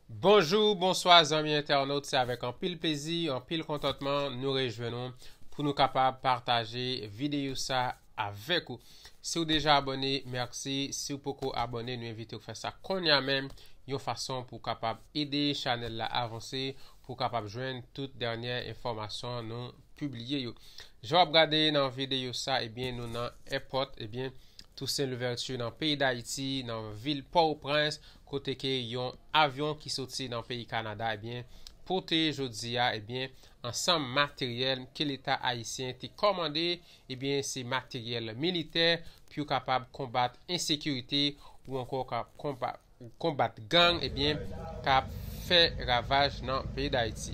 Bonjou, bonswa zanmi entènot se avèk anpil plezi, anpil kontantman nou rejwenn ou pou nou kapab pataje videyo sa avèk ou. Si w deja abone, mèsi, si w poko abone nou envite w fè sa konnya menm yon fason pou w kapab ede chanèl la avanse pou w kapab jwenn tout dènyè enfòmasyon nou pibliye yo. Jan w ap gade nan videyo sa ebyen nou nan èpòt ebyen Toussaint Louverture nan peyi Dayiti nan vil Pòtoprens kote ke yon avyon ki soti nan peyi Kanada ebyen pote jodi a ebyen ansanm materyèl ke leta ayisyen te kòmande ebyen se materyèl militè pou yo kapab konbat ensekirite ou ankò konbat gang ebyen kap fè ravaj nan peyi Dayiti.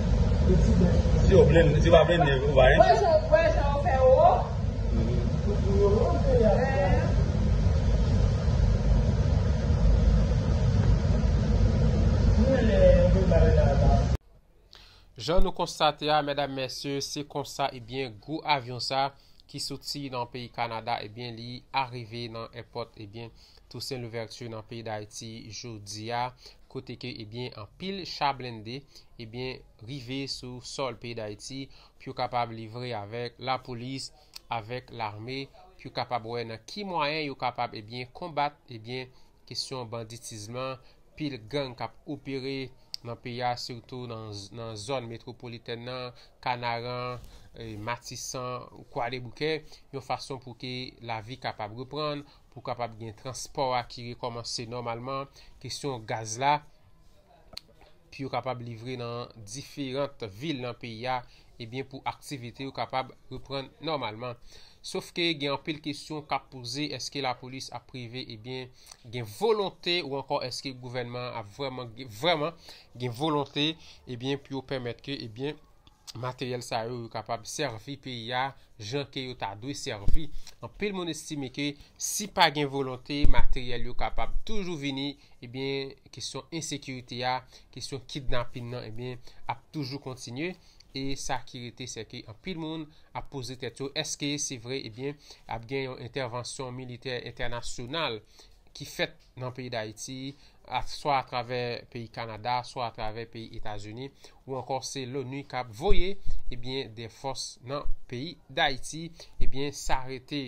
Si yo blende, si yo pa blende yo pa anyen. Jan nou konstate a medam mesye se konsa ebyen gwo avyon sa ki soti nan peyi Kanada ebyen li arive nan èpòt ebyen Toussaint Louverture nan peyi Dayiti jodi a kote ke ebyen anpil cha blende ebyen rive sou sòl peyi Dayiti pou yo kapab livre avèk lapolis, avèk lame pou yo kapab wè nan ki mwayen yo kapab ebyen konbat ebyen kesyon banditizm lan, pil gang k ap opere nan peyi a sitou nan zòn metwopolitèn nan, Kanaran, Matisan, Kwadèboukè yon fason pou ke lavi kapab reprann. pou kapab gen transpò a ki rekòmanse nòmalman, kesyon gaz la, pou yo kapab livre nan diferant vil nan peyi a, ebyen pou aktivite yo kapab reprann nòmalman. Sof ke gen anpil kesyon kap poze, eske lapolis ap prive, ebyen gen volonte ou ankò eske gouvènman ap vrèman gen volonte, ebyen pou yo pèmèt ke, ebyen. materyèl sa yo yo kapab sèvi peyi a jan ke yo ta dwe sèvi. Anpil moun estime ke si pa gen volonte, materyèl yo kapab toujou vini, ebyen eh kesyon ensekirite a, kesyon kidnapin nan ebyen eh ap toujou kontinye. E sa ki rete se ke anpil moun ap poze tèt yo, eske se vre ebyen eh ap gen yon entèvansyon militè entènasyonal ki fèt nan peyi Dayiti, swa atravè peyi Kanada, swa atravè peyi Etazini, ou ankò se Loni k ap voye ebyen eh de fòs nan peyi Dayiti, ebyen eh sa rete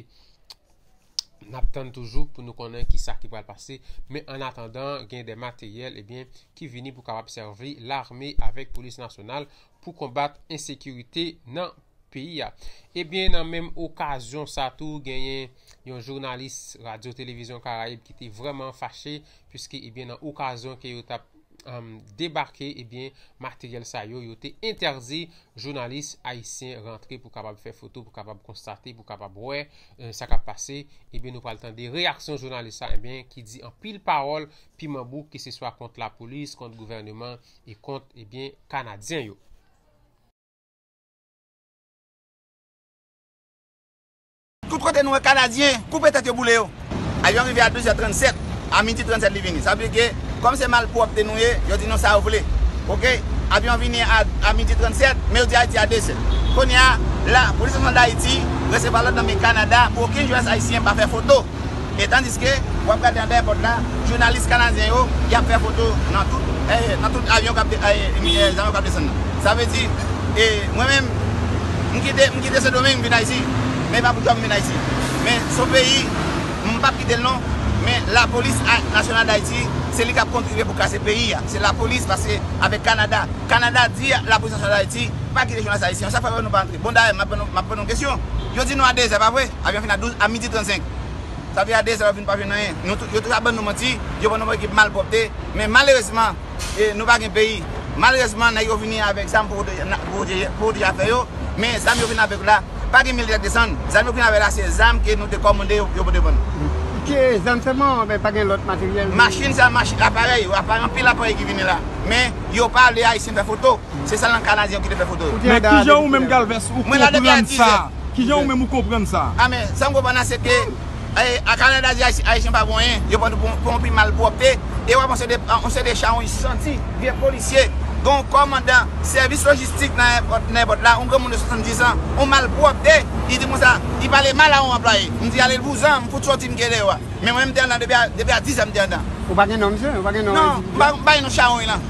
n ap tann toujou pou nou konnen ki sa ki pral pase. Men an atandan gen de materyèl ebyen eh ki vini pou kapab sèvi lame avèk polis nasyonal pou konbat ensekirite nan peyi a. Ebyen nan menm okazyon sa tou genyen yon jounalis radyo televizyon karayib ki te vreman fache puiske ebyen nan okazyon ke yo tap debake ebyen materyèl sa yo yo te entèdi jounalis ayisyen rantre pou kapab fè foto pou kapab konstate pou kapab wè sa kap pase ebyen nou pral tande reyaksyon jounalis sa ebyen ki di anpil pawòl piman bouk ki se swa kont la polis kont gouvèneman e kont ebyen eh kanadyen yo. Tout kote nou wè kanadyen koupe tèt yo boule yo. Avyon rive a 12 è 37, a midi 37 li vini. Sa vle di ke kòm se malpwòpte nou ye, yo di nou sa yo vle. Ok, avyon vini a midi 37, men yo di Ayiti a 2 zè. Kounye a, la, Polis Nasyonal Dayiti resevwa lòd nan men Kanada pou okenn jounalis ayisyen pa fè foto. E tandiske, w ap gade anba èpòt la, jounalis kanadyen yo, y ap fè foto nan tout, nan tout avyon k ap, avyon k ap desann nan. Sa vle di, e mwen menm, m kite, m kite Sendomeng m vin Ayiti. Men e pa pou djòb m vin Ayiti. Men s on peyi, m p ap kite l non, men lapolis nasyonal Dayiti, se li k ap kontribye pou kase peyi a. Se lapolis pase avèk Kanada. Kanada di lapolis nasyonal Dayiti, pa kite jounalis ayisyen yo. Sa k fè yo wè nou pa antre? Bon dayè, m ap pran nou, m ap pran nou kesyon. Yo di nou a dezè, pa vre? Avyon fin a douz, a midi trannsenk. Sa fè a 2 zan yo vin pa jwenn anyen. Nou tou, yo tou ap ban nou manti, yo ban nou ekip malpwòpte, men malerezman, e, nou pa gen peyi. Malerezman nèg yo vini avèk zam pou pwoteje, pou pwoteje, pou pwoteje afè yo, men zam yo vin avèk la, pa gen militè k desann, zam yo vin avèk la se zam ke nou te kòmande yo, yo pote ban nou. Ke zam sèlman ou byen pa gen lòt materyèl? Machin sa, machin, aparèy yo, aparèy, anpil aparèy ki vini la, men yo pa vle Ayisyen fè foto, se sèlman Kanadyen yo ki te fè foto yo. Ou te la da a depi kilè? Men kijan ou menm Galvez ou konprann sa? Kijan ou menm ou konprann sa? A men, sa m konprann la se ke a Kanada di Ayisyen pa pou anyen, yo pran pou yon pi malpwòpte, e w ap wè yon seri de chawony santi, vye polisye, gen yon kòmandan sèvis lojistik nan èpòt Nèpòt la, yon granmoun de 70 an, yon malpwòpte, li di m konsa, li pale mal a yon anplwaye. M di ale l vouzan, m fout soti m ke deyò a. Men mwen m te anndan depi a 10 è m te anndan. Ou pa gen non misye? Ou pa gen non endividi a? Non, m pa gen non chawony lan.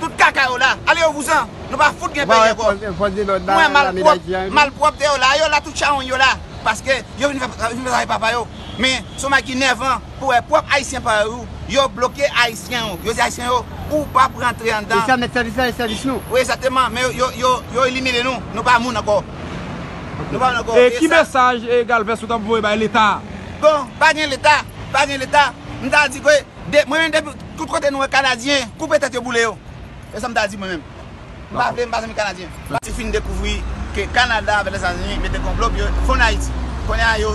Tout kaka yo la. Ale yo vouzan. Nou pa fout gen peyi anko. Nou wè malpwop, malpwopte yo la. Yo la tout chawony yo la. Paske yo vin fè travay papa yo. Men son bagay ki nèvan pou wè pwop ayisyen pa yo. Yo bloke ayisyen yo. Yo di ayisyen yo ou pap rantre andan. Yo fèmen sèvis la e sèvis nou. Wi egzakteman. Men yo elimine nou. Nou pa moun anko. Nou pa moun anko. E ki mesaj Galvez ou tap voye bay leta a? Bon, pa gen leta. Pa gen leta. M ta di ke mwen menm depi. Tout kote nou wè kanadyen koupe tèt yo boule yo se sam ta di mwen menm m pa vle m pa zanmi kanadyen. Ti fin dekouvri ke Canada avek Lèzetazini mete konplo pou yo fonn Ayiti. Kounye a yo.